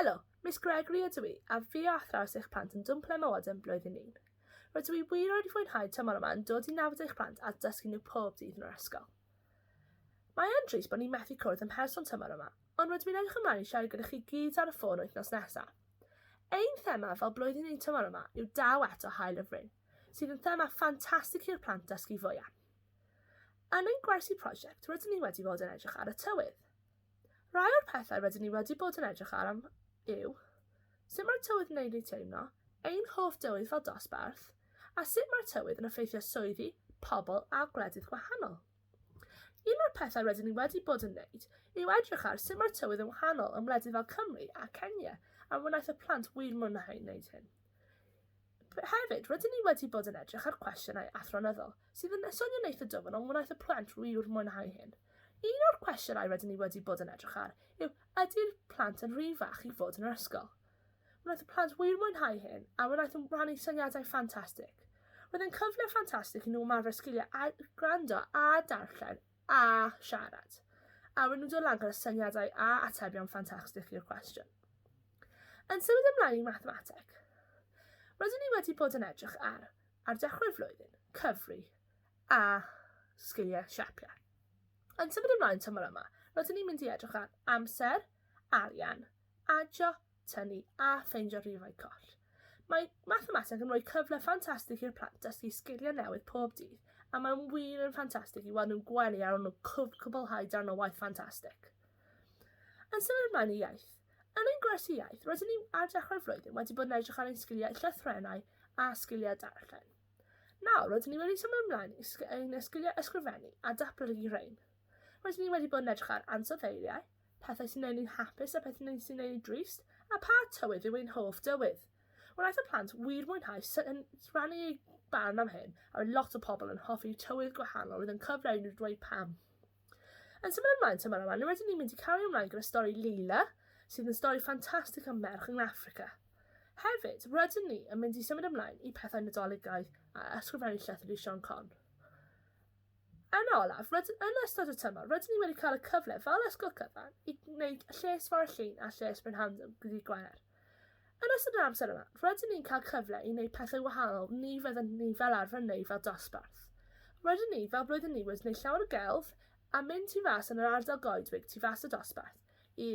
Helo, Miss Gregory ydw i, a fi a athrawes eich plant yn Dwmple Mawddon Blwyddyn Un. Rydw i wir wedi fwynhau tymor yma yn dod i nabod eich plant a dysgu nhw pob dydd yn yr ysgol. Mae yn drist bod ni'n methu cwrdd yn person tymor yma, ond rydw i'n edrych ymlaen i siarad gyda chi gyd ar y ffôn wythnos nesaf. Ein thema fel Blwyddyn Un tymor yma yw Daw Eto Hael y Fryn, sydd yn thema ffantastig i'r plant dysgu fwy am. Yn ein gwersi prosiect rydyn ni wedi bod yn edrych ar y tywydd. Rhai o'r pethau rydyn ni wedi bod yn edrych ar am yw sut mae'r tywydd yn ei teimlo, ein hoff dywydd fel dosbarth, a sut mae'r tywydd yn effeithio swyddi, pobl a gwledydd gwahanol. Un o'r pethau rydyn ni wedi bod yn wneud yw edrych ar sut mae'r tywydd yn wahanol ym wledydd fel Cymru a Kenya a wnaeth y plant wir mwynhau wneud hyn. Hefyd, rydyn ni wedi bod yn edrych ar cwestiynau athronyddol sydd yn esonio neith y dyfn ond wnaeth y plant wir mwynhau hyn. Un o'r cwestiynau rydyn ni wedi bod yn edrych ar yw ydy'r plant yn rhy fach i fod yn yr ysgol? Wnaeth y plant wir mwynhau hyn a wnaeth yn rhannu syniadau ffantastig. Roedd yn cyfle ffantastig i nhw ymarfer sgiliau a gwrando a darllen a siarad. A wedyn dod lan gyda syniadau a atebion ffantastig i'r cwestiwn. Yn symud ymlaen i mathemateg. Rydyn ni wedi bod yn edrych ar, ar dechrau'r flwyddyn, cyfri a sgiliau siapiau. Yn symud ymlaen tymor yma, rydyn ni'n mynd i edrych ar amser, arian, adio tynnu a ffeindio rhifau coll. Mae mathemateg yn rhoi cyfle ffantastig i'r plant dysgu sgiliau newydd pob dydd, a mae'n wir yn ffantastig i weld nhw'n gwenu ar ôl nhw cwblhau darn o waith ffantastig. Yn symud ymlaen i iaith. Yn ein gwers i iaith, rydyn ni ar dechrau'r flwyddyn wedi bod yn edrych ar ein sgiliau llythrennau a sgiliau darllen. Nawr, rydyn ni wedi symud ymlaen i ein sgiliau ysgrifennu a datblygu rhain. Rydyn ni wedi bod yn edrych ar ansoddeiriau, pethau sy'n gwneud ni'n hapus a pethau sy'n gwneud ni'n drist, a pha tywydd yw ein hoff dywydd. Wnaeth y plant wir mwynhau rhannu eu barn am hyn, a roedd lot o pobl yn hoffi tywydd gwahanol, roedd yn cyfle i nhw ddweud pam. Yn symud ymlaen tymor yma, rydyn ni'n mynd i cario ymlaen gyda stori Leila, sydd yn stori ffantastig am merch yng Affrica. Hefyd, rydyn ni yn mynd i symud ymlaen i pethau Nadoligaidd a ysgrifennu llythyr i Siân Con. Yn olaf, rydyn yn ystod y tymor, rydyn ni wedi cael y cyfle fel ysgol cyfan i wneud lles Ffordd Llŷn a lles Brynhawn ddydd Gwener. Yn ystod yr amser yma, rydyn ni'n cael cyfle i wneud pethau wahanol ni fyddwn ni fel arfer yn wneud fel dosbarth. Rydyn ni, fel blwyddyn ni, wedi wneud llawer o gelf a mynd tu fas yn yr ardal goedwig tu fas y dosbarth i